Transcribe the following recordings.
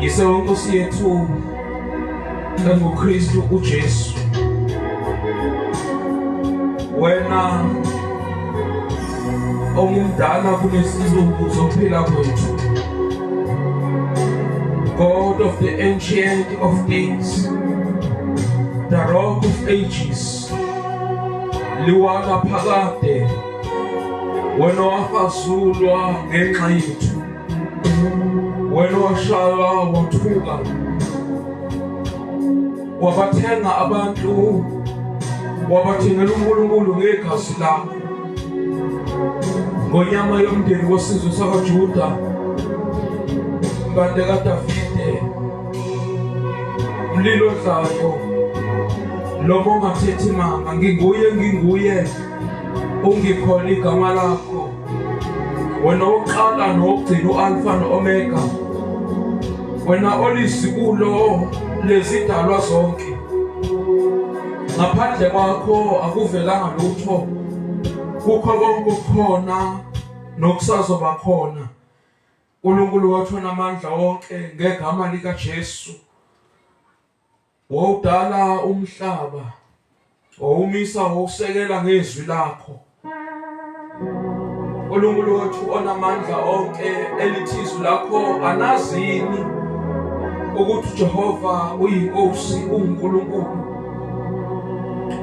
Yise uNkosi yethu enguKristu uJesu. Wena ongumdala kunezinsuku zokuphila kwethu. God of the ancient of days, the rock of ages, liwana phakade wena wafazulwa ngenxa yethu, wena washaywa wathuka, wabathenga abantu, wabathengela uNkulunkulu ngegazi lakho, ngonyama yomndeni wesizwe sakwaJuda, impande kaDavide, mlilo dlayo lomongathethe manga nginguye nginguye ungikhona igama lakho wena oqala nogcina ualfa noomega wena olisibulo lezidalwa zonke ngaphandle kwakho akuvelanga lutho kukho konke ukukhona nokusazoba khona uNkulunkulu wathona amandla wonke ngegama lika Jesu Wawudala umhlaba, wawumisa ngokusekela ngezwi lakho. uNkulunkulu wethu onamandla onke elithi izwi lakho anazini ukuthi uJehova uyinkosi uNkulunkulu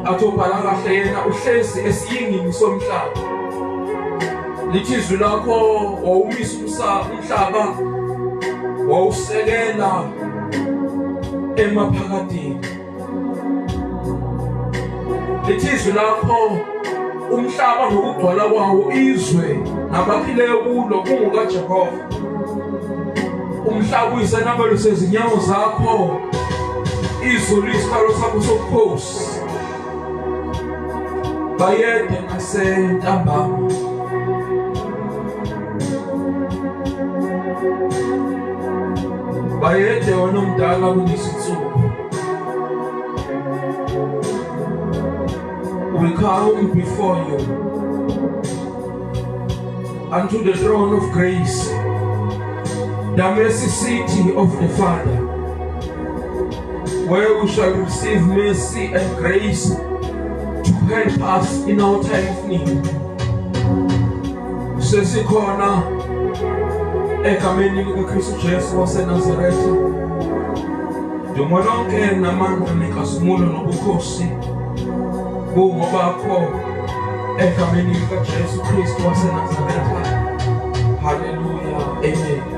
athobhala kahle yena uhlezi esiyingini somhlaba lithi izwi lakho wawumisa umhlaba wawusekela emaphakadini lethizwi lakho umhlaba ngokugcwala kwawo izwe nabakhileyo kulo kungukajehova umhlaba uyisenabelo sezinyawo zakho izulu isitalo sakho sobukhosi bayede nasentambama bayede wona omdala kunesinsuku we come before you unto the throne of grace the mercy city of the father where we shall receive mercy and grace to help us in our time of need. Sesikhona egameni likaKristu Jesu waseNazaretha. Dumo lonke namandla nenkazimulo nobukhosi bungobakho egameni likaJesu Kristu waseNazaretha. Hallelujah. Amen.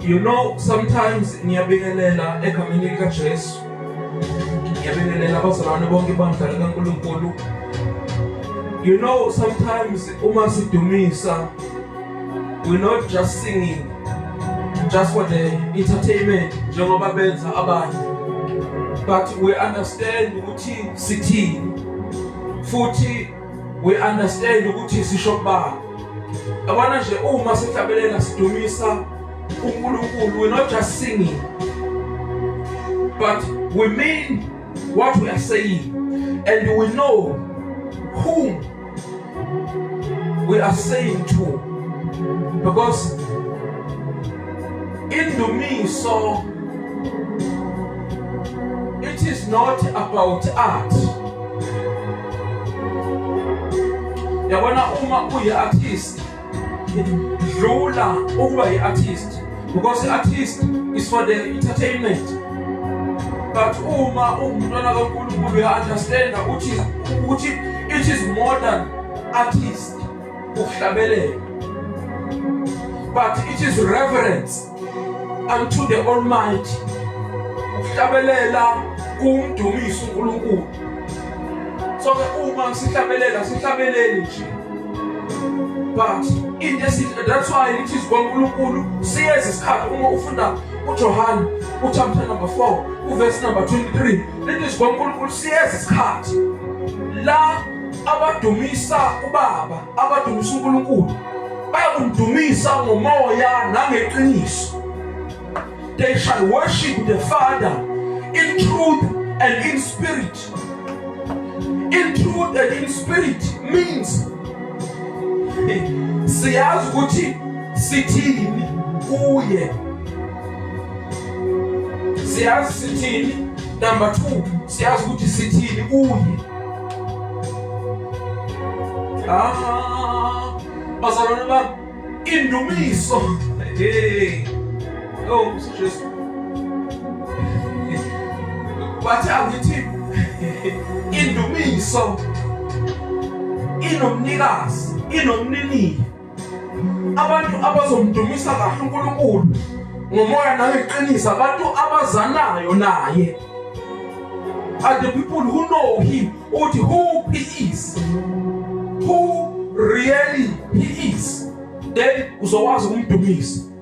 You know sometimes ngiyabingelela egameni lika Jesu. Ngiyabingelela abazalwane bonke bandla lika Nkulunkulu. You know sometimes uma sidumisa we're not just singing just for the entertainment njengoba benza abanye but we understand ukuthi sithini futhi we understand ukuthi sisho kubani abana nje uma sihlabelena sidumisa uNkulunkulu we not just singing but we mean what we are saying and we know whom we are saying to because in the me so it is not about art yabona uma uyi-artist dlula ukuba yi-artist because i-artist is for the entertainment but uma ungumntwana kankulunkulu uya-understanda ukuthi ukuthi it is more than artist ukuhlabelela but it is reverence unto the almighty ukuhlabelela kumdumisa uNkulunkulu so ke uma sihlabelela sihlabeleni nje but into esithi that's why it is kwaNkulunkulu siyeza isikhathi uma ufunda uJohane uchapter number 4 uverse number 23 lithi sikwaNkulunkulu siyeza isikhathi la abadumisa ubaba abadumisa uNkulunkulu bayakudumisa ngomoya nangeqiniso they shall worship the father in truth and in spirit in truth and in spirit means siyazi ukuthi sithini kuye siyazi sithini number 2 siyazi ukuthi sithini kuye. Ah, bazalwane bami, indumiso. Hey. Oh, Jesu. Wathi angithi indumiso inomnikazi, inomnini. abantu abazomdumisa kahle uNkulunkulu ngomoya nangeqiniso abantu abazanayo naye and the people who know him uthi who he is who really he is then uzokwazi ukumdumisa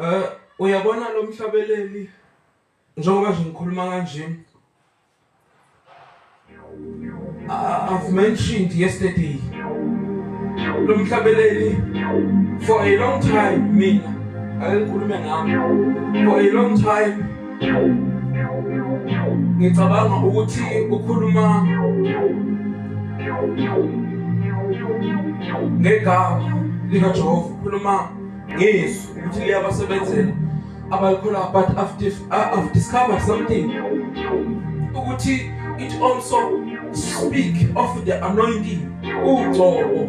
Eh uyabona lo mhlabeleli njengoba nje ngikhuluma kanje I've mentioned yesterday lo mhlabeleli for a long time mina ayikhulume ngami for a long time ngicabanga ukuthi ukhuluma ngegama likajehova ukhuluma ngezwi ukuthi liyabasebenzela abayikhula but after i've discovered something ukuthi it also speak of the anointing ugcobo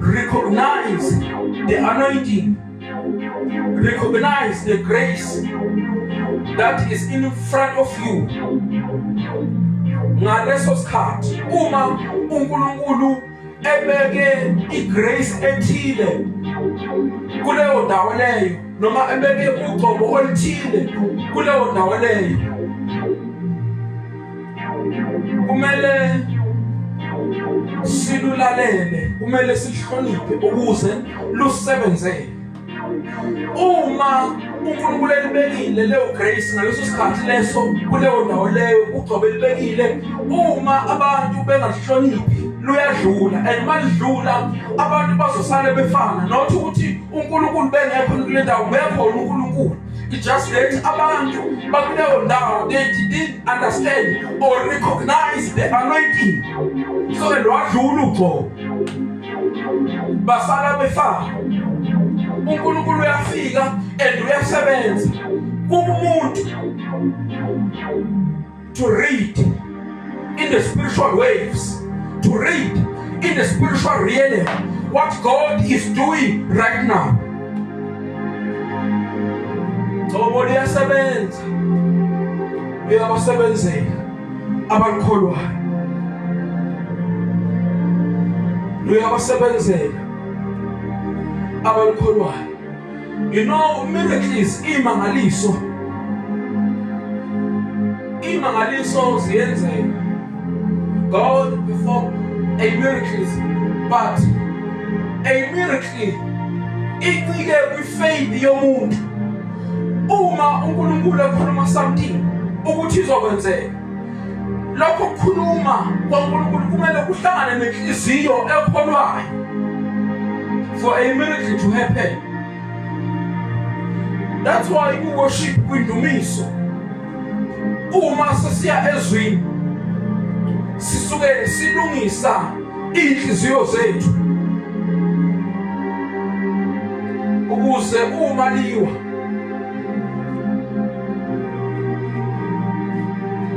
Recognize the anointing. Recognize the grace that is in front of you. Ngaleso sikhathi uma uNkulunkulu ebeke igrace ethile kuleyo ndawo leyo noma ebeke ugcobo oluthile kuleyo ndawo leyo kumele silulalele kumele sihloniphe ukuze lusebenzele uma uNkulunkulu elibekile leyo grace ngaleso sikhathi leso kuleyo ndawo leyo ugcobe libekile uma abantu bengahloniphi luyadlula and malidlula abantu bazosale befana not ukuthi uNkulunkulu bengekho kule ndawo bekhona uNkulunkulu it just that abantu bakuleyo ndawo they didn't understand or recognize the anointing so ke lwadlula ugxobo basala befaka uNkulunkulu uyafika and uyasebenza kumuntu to read in the spiritual waves, to read in the spiritual realm what God is doing right now. Ngoba liyasebenza. Uyabasebenzela abakholwayo. Uyabasebenzela abakholwayo. You know, miracles imangaliso. Imangaliso ziyenzeka. God perform a miracles but a miracle incike kwifaith yomuntu. Uma uNkulunkulu ekhuluma something ukuthi izokwenzeka lokho kukhuluma kwaNkulunkulu kumele kuhlangane nenhliziyo ekholwayo for a miracle to happen that's why ukuworship kwindumiso uma sesiya ezwini sisuke silungisa inhliziyo zethu ukuze uma liwa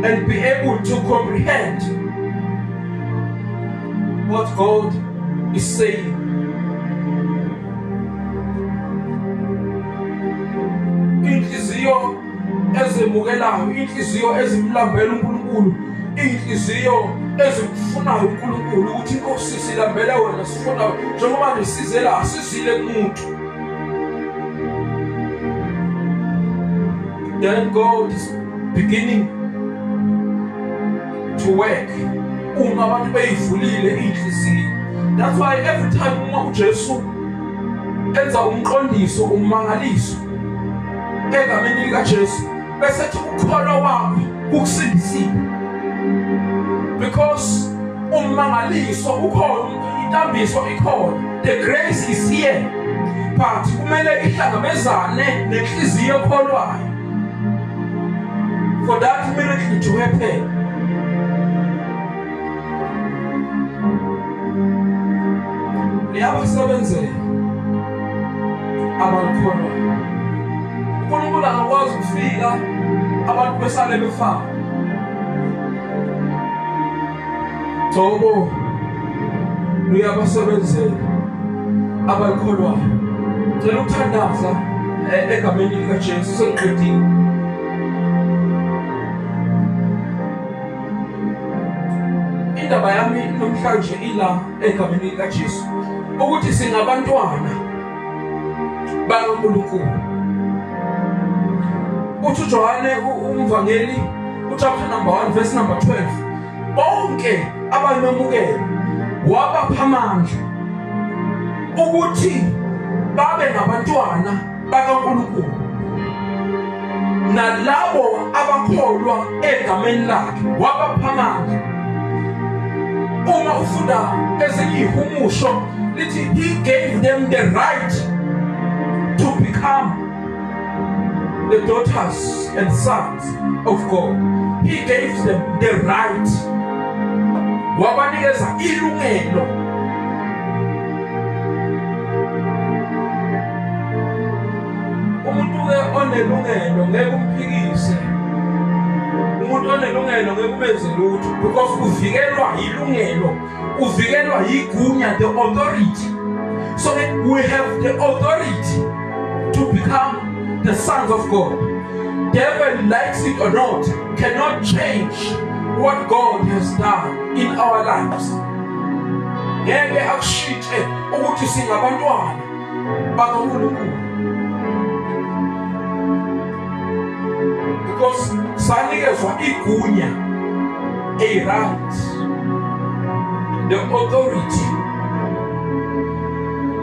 and be able to comprehend what God is saying. Inhliziyo ezemukelayo, inhliziyo ezimlambela uNkulunkulu, inhliziyo ezimfunayo uNkulunkulu ukuthi inkosi silambele wena sifuna njengoba ngisizela asizile kumuntu Then God is beginning to work uma abantu beyivulile inhliziyo that's why every time uma uJesu enza umqondiso umangaliso egameni likaJesu bese thi ukukholwa kwami kukusindisile because ummangaliso ukhona intambiso ikhona the grace is here but kumele ihlangabezane nenhliziyo ekholwayo for that miracle to happen liyabakusebenzela abakholwa uNkulunkulu akakwazi ukufika abantu besale befana Thobo luyabasebenzela abakholwayo cela ukuthandaza eh, egameni likaJesu sengiqedile indaba yami namhlanje ila egameni likaJesu ukuthi singabantwana bakaNkulunkulu. Uthi uJohane umvangeli uchapter number 1 verse number 12 bonke abamemukela wabapha amandla ukuthi babe ngabantwana bakaNkulunkulu nalabo abakholwa egameni lakhe wabapha amandla uma ufunda ezinye ihumusho lithi he gave them the right to become the daughters and sons of God he gave them the right wabanikeza ilungelo umuntu-ke onelungelo ngeke umphikise umuntu onelungelo ngeke ubenze lutho because uvikelwa yilungelo uvikelwa yigunya the authority so we have the authority to become the sons of god devil likes it or not cannot change what god has done in our lives ngeke akushintshe ukuthi singabantwana Baba uNkulunkulu. Because sanikezwa igunya a right the authority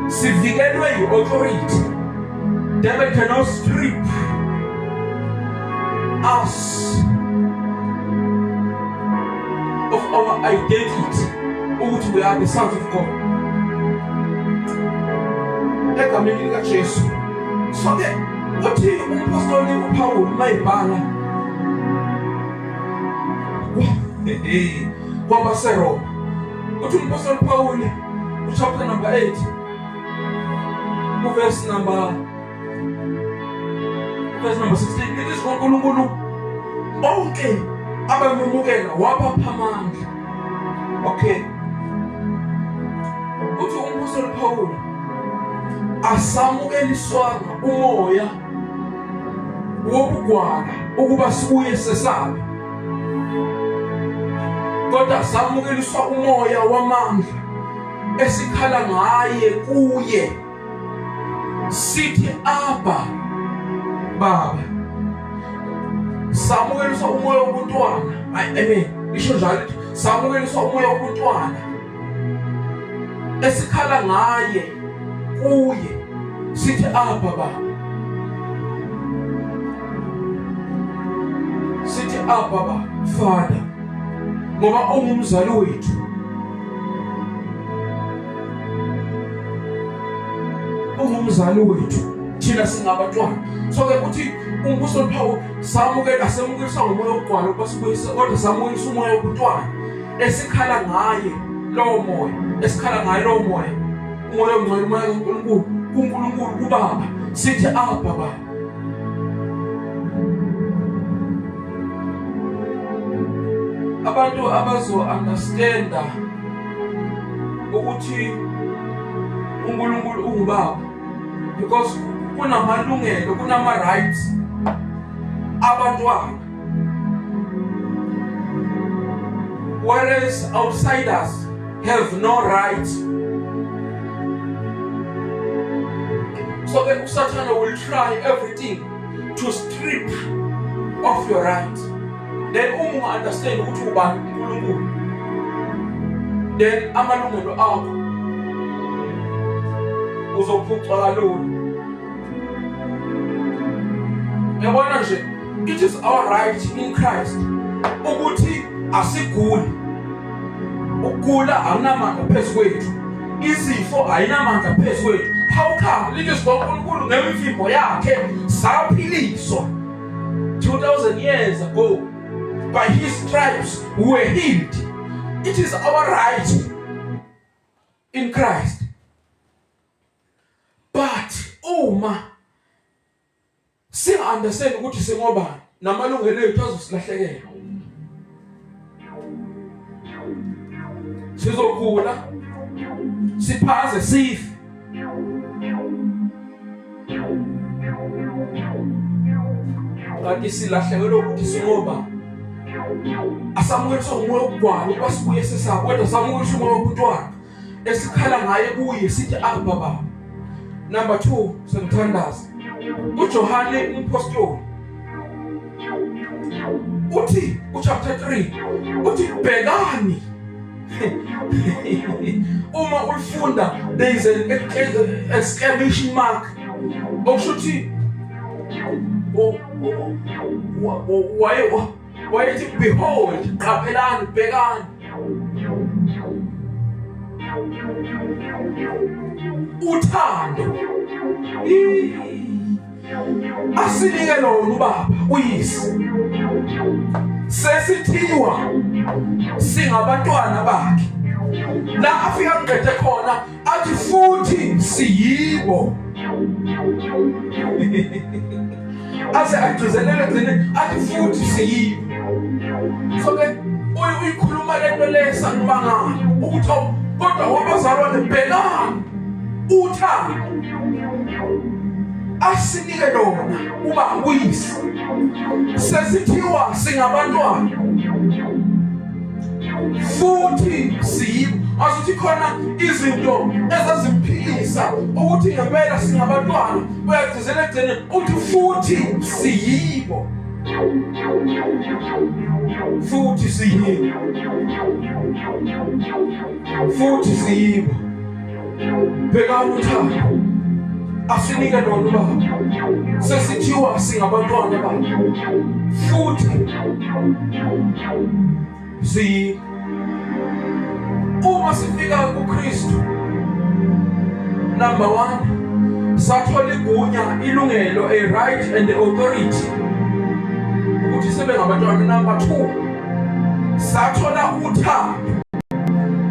sivikelwe yi-authority that they cannot strip us of our identity ukuthi uyaphi isandla ukhona egameni likaJesu sonke uthi umpostoli uPawulu mayibhala kwaba seRoma uthi umpostoli uPawulu uchapter number 8 uverse number Verse number 16. It is uNkulunkulu bonke abamemukela wabapha amandla. Okay. Uthi umpostoli Paul asamukeliswanga umoya wobugwala ukuba sibuye sesabe kodwa samukeliswa umoya wamandla esikhala ngaye kuye sithi abba baba samukelisa umoya wobuntwana i mean isho njalo samukelisa umoya wobuntwana esikhala ngaye kuye sithi abba baba sithi abba baba father ngoba ungumzali wethu ungumzali wethu thina singabantwana so ke kuthi umbuso liphawu samukela asemukisa ngomoya wokugwala ukuba sibuyise kodwa samukisa umoya wobuntwana esikhala ngaye lowo moya esikhala ngaye lowo moya umoya ongcwele umoya kaNkulunkulu kuNkulunkulu kubaba sithi ababa abantu abazo-understanda ukuthi uNkulunkulu ungubaba because kunamalungelo kunama-rights abantwana Whereas outsiders have no right. So then Satan will try everything to strip off your right. Then umu understand ukuthi ubani uNkulunkulu. Then amalungelo akho uzophucwa kalula. Yabona nje It is all right in Christ ukuthi asiguli. Ukugula awunamandla phezu kwethu. Izifo ayinamandla phezu kwethu. How come lilizwi loNkulunkulu ngemivimbo yakhe saphiliswa 2000 years ago by his stripes we were healed. It is our right in Christ. But uma oh, Singa understand ukuthi singobani namalungelo ethu azosilahlekela. Sizokhula siphaze sife. Kanti silahlekelwe ukuthi singobani asamukelisa umoya wokugwala ukuba sibuye sesabo kodwa samukelisa umoya wobuntwana esikhala ngaye kuye sithi abba baba number 2 semthandaza uJohane umpostoli uthi uchapter 3 uthi bhekani uma ulifunda there is an exclamation mark okusho ukuthi waye Wayethi behold qaphelani bhekani uthando asinike lona ubaba uyise sesithiwa singabantwana bakhe la afika kuqede khona athi futhi siyibo aze agcizelele thina athi futhi siyibo so ke uyikhuluma lento le sanibangana ukuthi kodwa wabazalwane bhekani uthando asinike lona uba uyise sesithiwa singabantwana futhi siyibo asuthi khona izinto ezazimphilisa ukuthi ngempela singabantwana uyagcizela ekugcine uthi futhi siyibo futhi siyibo futhi siyibo bheka uthando asinike lona ubaba sesithiwa singabantwana baba futhi si uma sifika kuKristu number 1 sathola igunya ilungelo a right and the authority ukuthi sebe ngabantwana number 2 sathola uthando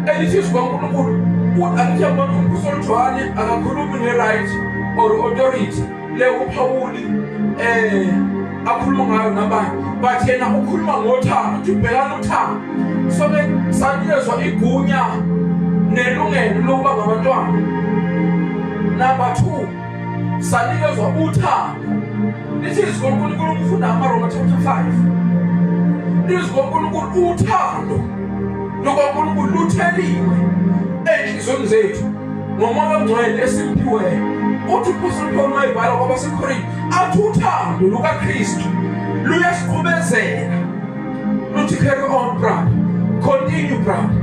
elithi sikaNkulunkulu ukuthi angithi abantu umbuso olujwani akakhulumi nge-right or authority le uphawuli um akhuluma ngayo nabanye but yena ukhuluma ngothando ukuthi ubhekana uthando soke sanikezwa igunya nelungelo lokuba ngabantwana number two sanikezwa uthando lithi izwi lonkulunkulu ukufunda amaroma chapter 5 izwi lonkulunkulu uthando lukankulunkulu lutheliwe ey'nhliziyweni zethu ngomoya ongcwele esimphiweyo uthi uphostoli paul mayibhala kwabasekorinte athi uthando lukakristu luyasiqhubezela luthi carry on brother continue brother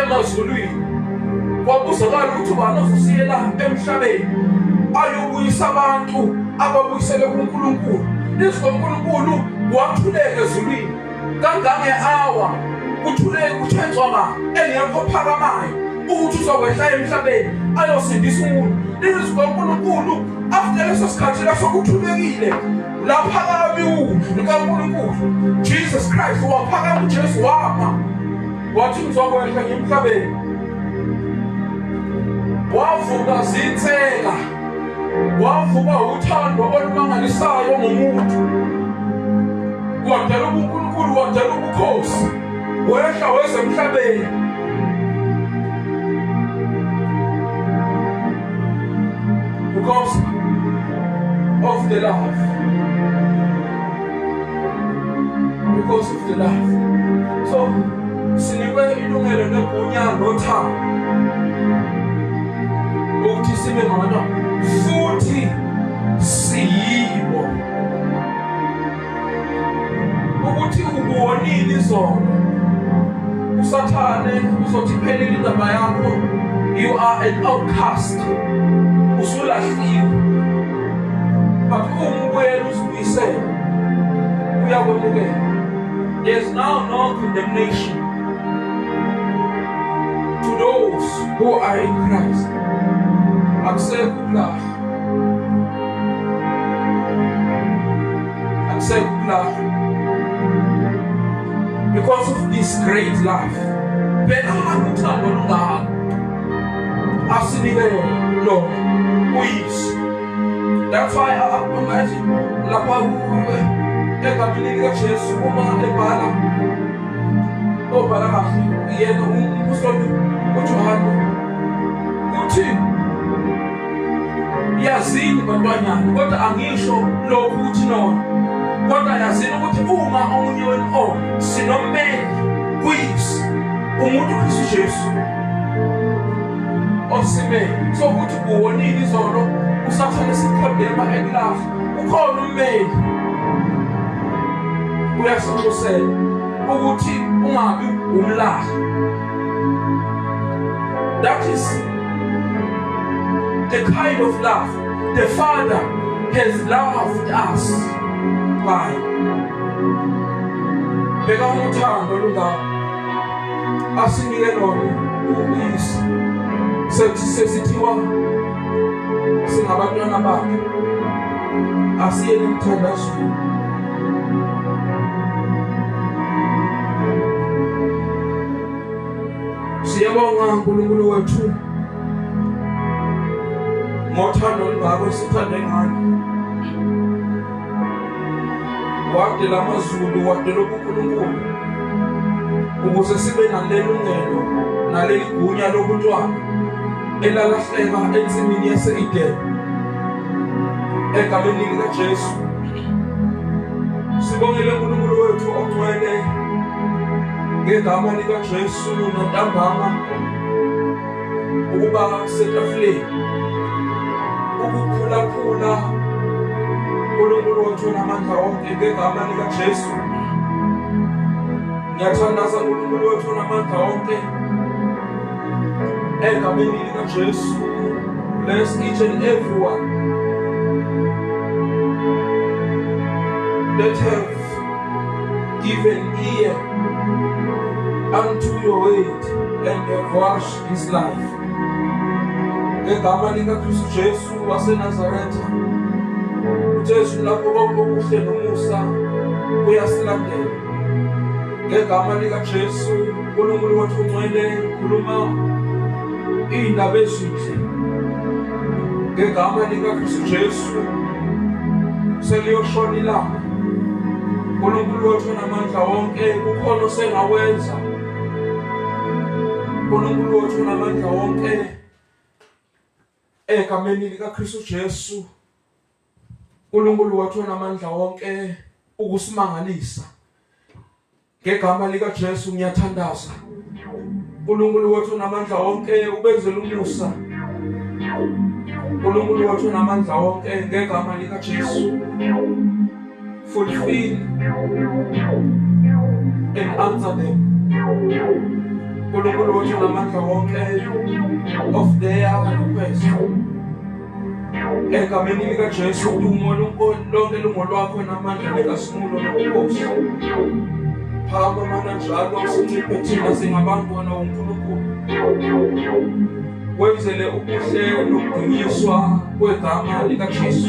emazulwini kwakuzakala ukuthi ubani ozosiyela emhlabeni ayobuyisa abantu ababuyisele kuNkulunkulu izwi loNkulunkulu wathuleka ezulwini kangange-awa kuthuleke kuthenzwaba engekho phakamayo ukuthi uzokwehla emhlabeni ayosindisa umuntu izwi loNkulunkulu after leso sikhathi leso kuthulekile laphakami u likaNkulunkulu Jesus Christ waphakama uJesu wama wathi ngizokwehla emhlabeni wavuka zinsela wavuka uthando olumangalisayo ngomuntu wadala ubuNkulunkulu wadala ubukhosi wehla weza emhlabeni because of the love because of the love so sinikwe ilungelo negunya nothando ukuthi sibe ngabantwana futhi siyibo ukuthi ubonile izolo usathane uzothi phelile indaba yakho you are an outcast usulahliwe but umbuyela uzibuyisele uyakwemukela there's now no condemnation to those who are in Christ akusekho ukulahla because of this great love bhekani uthando lungako asinike lona uyiso that's why manje lapha kuwe egamini likajesu uma ebhala obhala kahle yena umpostoli ujohane uthini yazini bantwanyana kodwa angisho lokhu ukuthi nona kodwa yazini ukuthi uma omunye wenu o oh, sinommeli kuyisi umuntu uKristu Jesu osimele so ukuthi kuwonile izolo usathane sikhodema ekulapha ukhona ummeli uyasinxusela ukuthi ungabi umlaha that is The kind of love the Father has loved us by. Bheka uthando lungaka asinike lona ubisi sesithiwa singabantwana bakhe asiyeni emthandazweni Siyabonga uNkulunkulu wethu ngothando olungako sithande ngani wadela amazulu wadela ubuNkulunkulu ukuze sibe nalelungelo naleli gunya lobuntwana elalahleka ensimini yase-Edeni egameni likaJesu Sibongele uNkulunkulu wethu ogcwele ngegama likaJesu nantambama ukuba setafuleni ukuphulaphula uNkulunkulu wethu namandla onke ngegama likaJesu ngiyathandaza uNkulunkulu wethu namandla onke Egameni likaJesu, bless each and everyone that have given ear unto your word and have washed his life. Ngegama likaKristu Jesu waseNazaretha, uJesu lapho konke okuhle nomusa uyasilandela. Ngegama likaJesu uNkulunkulu wethu unxele khuluma iy'ndaba ezinhle ngegama likaKristu Jesu seliyoshona ilanga uNkulunkulu wethu namandla wonke kukhona osengawenza uNkulunkulu wethu namandla wonke egameni likaKristu Jesu uNkulunkulu wathi onamandla wonke ukusimangalisa ngegama lika Jesu ngiyathandaza uNkulunkulu wathi onamandla wonke ubenzela umusa uNkulunkulu wathi onamandla wonke ngegama lika Jesu Fulfill and answer them. Nkulunkulu wethu ngamandla wonke of their request. Egameni likaJesu udumo lonke lungolwakho namandla nekasimulo nobukhosi. Phakama mana njalo sinciphe thina singabantwana woNkulunkulu. wenzele ubuhle nokudunyiswa kwegama likaJesu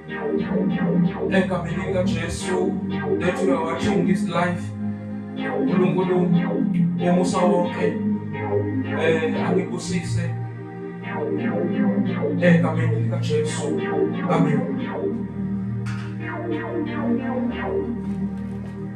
egameni likajesu lethu uyawachunga his life unkulunkulu umusa wonke um angibusise egameni likajesu amen